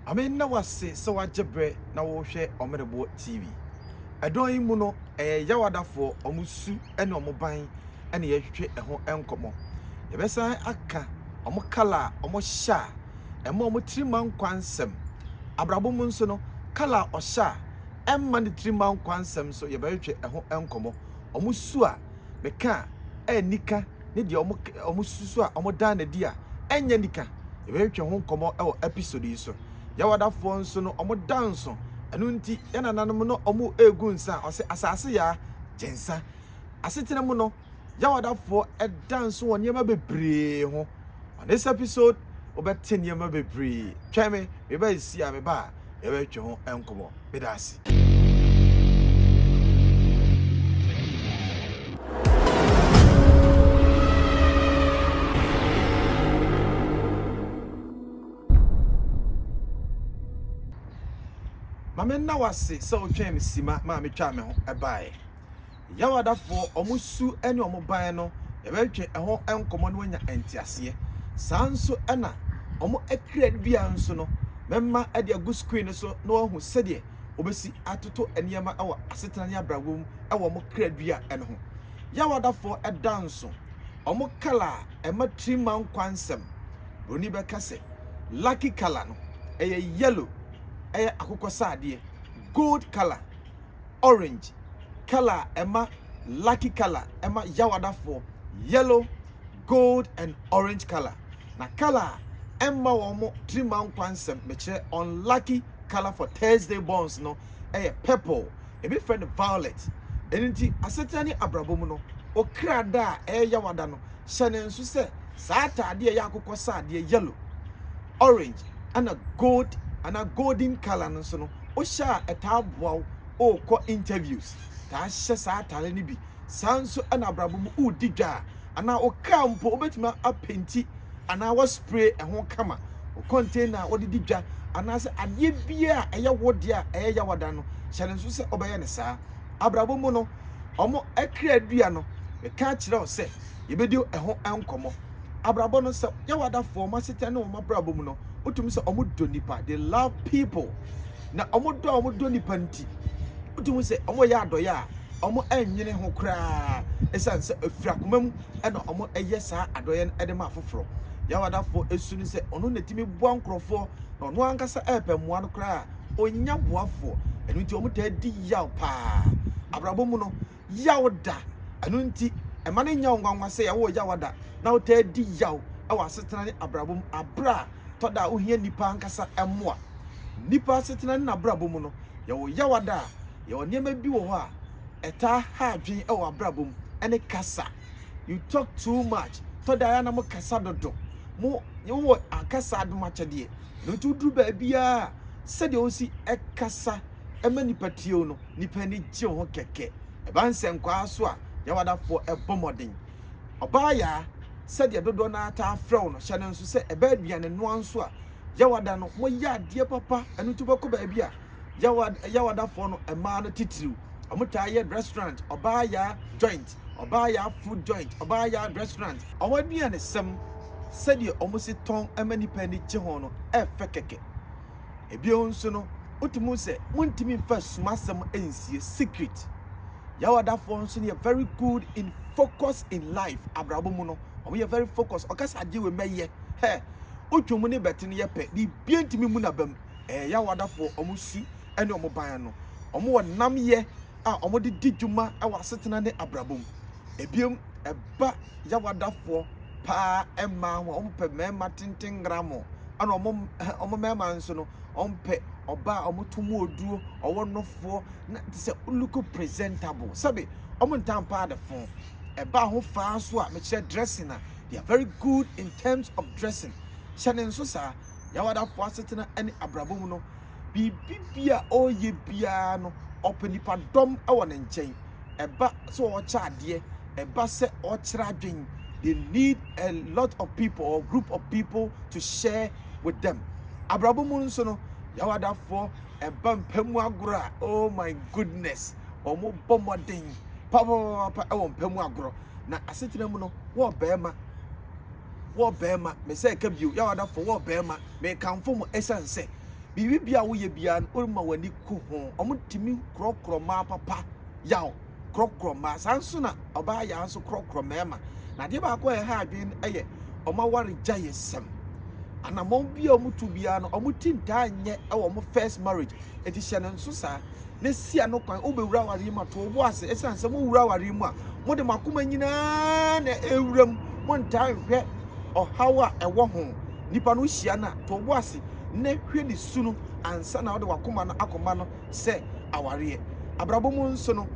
Ame nna wo ase sɛ woagye berɛ na worehwɛ Ɔmereboɔ TV. Ɛdɔn yi mu no, ɛyɛ Yawadafoɔ, wɔn su ne wɔn ban na yɛretwetwe ɛho nkɔmmɔ. Yɛbɛsan aka wɔn kala a wɔhyɛ a ɛma wɔn tiri ma nkwa nsɛm. Abrabɔ mu nso no, kala a ɔhyɛ a ɛmma ne tiri mma nkwa nsɛm nso yɛbɛtwetwe ɛho nkɔmmɔ. Wɔn su a meka a ɛnni ka ne deɛ wɔn wɔsusu a wɔdaa no adi a ɛnyɛ nika. Yɛbɛtwetwe ho nkɔmmɔ wɔ episode yi so. Yawadafoɔ nso no wɔda nso. Ɛno nti yɛn nananom no wɔregu nsa a wɔsɛ asase yaa gye nsa. Asetena mu no Yawadafoɔ da nso wɔ nneɛma bebree ho. On this episode wobɛte nneɛma bebree. Twɛn me, mebɛyɛ si a meba a. yɛbɛtwetwe ho nkɔmmɔ. Meda ase. Mame nna wo ase sɛ wotwɛn me sima maa metwaa me ho baeɛ. Yawadafoɔ, wɔn su ne wɔn ban no, yɛbɛtwetwe ɛho nkɔmmɔ na wɔanya nteaseɛ. Saa nso na wɔn akira dua nso no, mɛma de agu screen no so na wɔahu sɛdeɛ wɔbɛsi atoto nneɛma wɔ asetena ne abrabɔ mu wɔ wɔn kra dua no ho. Yawadafoɔ da nso, wɔn kala a ɛma tirim ma nkwa nsɛm. Buroni bɛka sɛ, Lucky kala no, ɛyɛ yellow, ɛyɛ akokɔsradeɛ, gold kala, orange colour a ɛma lucky colour ɛma yawadafoɔ yellow gold and orange colour na colour a ɛmma wɔn tirima nkwa nsɛm mekyerɛ unlucky colour for Thursday borns no ɛyɛ purple ebi frɛ no violet ɛno nti asetena ne abrabɔ mu no okra da a ɛyɛ yawada no hyɛ no nso sɛ saa ataadeɛ a ɛyɛ akokɔsradeɛ, yellow, orange, ɛna gold anaa golden colour no nso no, wohyɛ a ɛtaa boa wo wokɔ interviews. Taa hyɛ saa ataare no bi. Saa nso ɛna abrabɔ mu wodi dwa a anaa wo kaa mpo wobɛtumi apenti anaa waspray ɛho kama. Wo container a wɔde di dwa anaasɛ adeɛ biara a ɛyɛ wo deɛ a ɛyɛ yawada no hyɛ no nso sɛ wobɛyɛ no saa. Abrabɔ mu no, wɔn kra dua no, meka akyerɛ wo sɛ yɛbɛdi ɛho nkɔmmɔ. Abrabɔ no, sɛ yɛ w'adafoɔ, wɔn asetena ne wɔn abrabɔ mu no, wotumi sɛ wɔn dɔ nipa, they love people. Na wɔn dɔ a wɔn dɔ nipa nti, wotumi sɛ wɔn yɛ adɔyɛ a wɔn ɛnwene ho koraa, ɛsan sɛ efiri akoma mu ɛna wɔn ɛyɛ saa adɔyɛ no ɛde ma afoforɔ. Yɛ w'adafoɔ esu no sɛ ɔno na etumi boa nkorɔfoɔ na ɔno ankasa ɛɛpɛ mmoa no koraa a, Ɔnnya boafoɔ, ɛno nti wɔtaa di yaw paa. Abrabɔ mu no, yaw da, ɛno nti mma no nnyɛ wo nwanwa sɛ yɛwoo yaw ada na wotaa di yaw wɔ asetena ne abrabɔ mu aberɛ a tɔ da a wohia nnipa ankasa mmoa. Nnipa asetena ne n'abrabɔ mu no, yɛwɔ yaw ada a, yɛwɔ nneɛma bi wɔ hɔ a ɛtaa ha adwen wɔ abrabɔ mu, ɛne kasa. You talk too much, tɔ da a ɛyɛ a na mo kasa dodo, mo, wowɔ kasa adomakyɛdeɛ. Na ɔnti ɔduru baabi a sɛdeɛ ɔsi kasa ma nnipa tie wo no, nnipa ani gye ho kɛkɛ. Ɛba nsɛnkwaa so a, Yawadafoɔ bɔ mmɔden. Ɔbaayaa, sɛdeɛ dodoɔ no ara taa frɛ wo no, hyɛ no nso sɛ ɛba aduane noa nso a, Yawada no, moyɛ adeɛ papa. Ɛno nti wobɛkɔ baabi a, Yawada, Yawadafoɔ no, mmaa no titiriw, wɔtaa yɛ restaurant, ɔbaayaa joint. Ɔbaaya food joint, Ɔbaaya restaurant. Wɔn aduanesɛm, sɛdeɛ wɔn si tɔn ma nnipa ani gye ho no yɛ fɛ kɛkɛ. Bio nso no, wotumi hu sɛ wontumi mfa asumasɛm nsie, secret. Yawadafoɔ nso no yɛ very good in focus in life, abrabɔ mu no, wɔyɛ very focus. Ɔka sɛ adeɛ wei mɛyɛ, hɛ, wotwa mu ne bɛte no yɛ pɛ, biribiara ntumi mmu n'aba mu. Ɛyɛ Yawadafoɔ wɔn su ne wɔn ban ano. Wɔwɔ nnamyɛ a wɔde di dwuma wɔ asetena ne abrabɔ mu. Ebiem, ɛba yawadafoɔ paa mmaa ho a wɔpɛ mmarima tenten ngramo, ɛna wɔn wɔn mmarima nso no wɔpɛ ɔbaa a wɔto mu oduro, ɔwɔ nofoɔ na te sɛ look presentable. Sɛbe wɔntaa mpa adefo. Ɛba ahofa nso a mekyerɛ dressing a, they are very good in terms of dressing. Hyɛ ne nso saa, yawadafoɔ asetena ne abrabɔ mu no, biribi bi a ɔreyɛ biara no, ɔpɛ nnipadɔm wɔ ne nkyɛn. Ɛba sɛ ɔrekyɛ adeɛ, ɛba sɛ ɔrekyerɛ adwene, they need a lot of people or group of people to share with them. Abrabɔ mu nso no, yawadafoɔ ɛba mpa mu agorɔ a, oh my goodness, wɔbɔ mmɔden papapapa wɔ mpa mu agorɔ. Na asetena mu no, wɔ barima Wɔ barima, me sɛ ɛka bio, yaw adafo, wɔ barima, me kamfo mo ɛsiane sɛ, biribi biara a wo yɛ biara no, wo ma w'ani ku ho, ɔmo tumi korɔkorɔ mmaa papa, yaw, korɔkorɔ mmaa, saa nso na ɔbaa yaa nso korɔkorɔ mmarima, na adeɛ baako a ɛha adwene no ɛyɛ ɔmo aware gyae sɛm, anamɔn biara a ɔmo tu biara no, ɔmo ti ntaa nyɛ ɛwɔ ɔmo first marriage, Enti hyɛ no nso saa, na si ano kwan. Wobɛwura awareɛ mu a, to wo bo ase. Ɛsiane sɛ mowura awareɛ mu a, mode mo akoma nyinaa na ɛwura mu. Montaa nhwɛ ɔhaw a ɛwɔ ho. Nipa no wohyia no a, to wo bo ase na hwɛ ne su no ansa na wode w'akoma no akɔma no sɛ awareɛ. Abrabɔ mu nso no,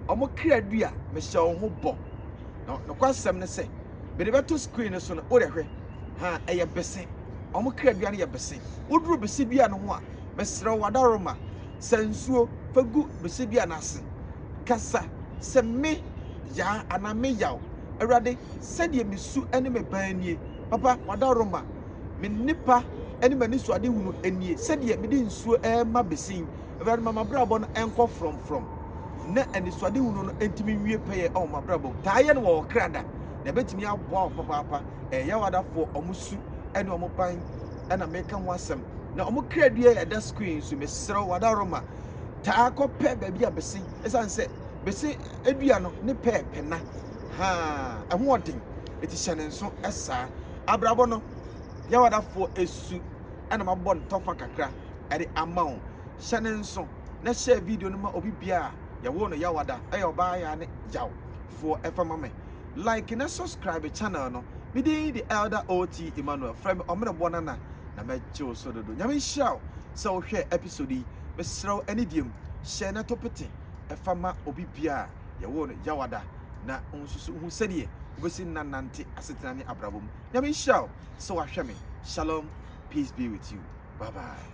wɔn kra du a, mehyɛ wo ho bɔ. Na nokwasɛm ne sɛ, mede bɛto screen no so no, wode hwɛ. Ha, ɛyɛ bese. Wɔn kra dua no yɛ bese. Woduru bese dua no ho a, Mesrɛ wo, adaworoma, sa nsuo fa gu Besebia no ase. Kasa sɛ, 'Me Yaa anaa Me Yaw, Awurade, sɛdeɛ me su ne me ban nie. Papa, w'adaworoma, me nnepa ne m'anisoadehunu nie, sɛdeɛ mede nsuo rema bese yi. Awurade, ma m'abrabɔ no nkɔ frɔmfrɔm, na anisoadehunu no ntumi nwie pɛyɛ wɔ m'abrabɔ mu. Taa yɛ no wɔ wo kra da, na ɛbɛtumi aboa wo papaapa. Ɛyɛ yaw adafoɔ, wɔn su ne wɔn ban ɛna meka ho asɛm na wɔn kradua ɛda screen so mesrɛ wo adaroma taa kɔpɛ baabi a bese ɛsiane sɛ bese adua no ne pɛɛpɛ na ha ɛho ɔden ɛti hyɛ ne nso ɛsaa abrabɔ no yɛwadafoɔ ɛsu ɛna mabɔ ntɔfa kakra ɛde ama wo hyɛ ne nso na hyɛ video no ma obi biara yɛwɔ no yɛwada ɛyɛ ɔbaa yɛ ne yaw foɔ ɛfa ma me like na subscribe channel no me din de Elder OT Emmanuel frɛ me ɔmereboɔ nana na mɛgye wo so dodo nyame nhyira wo sɛ wohwɛ episode yi mesrɛ wo anidie mu hyɛ na to pete ɛfa ma obi bia a yɛwoo no yawada na nsusu ho sɛdeɛ wobɛsi nna nante asetena ne abrabɔ mu nyame nhyira wo sɛ wahwɛ me shalom peace be with you bye bye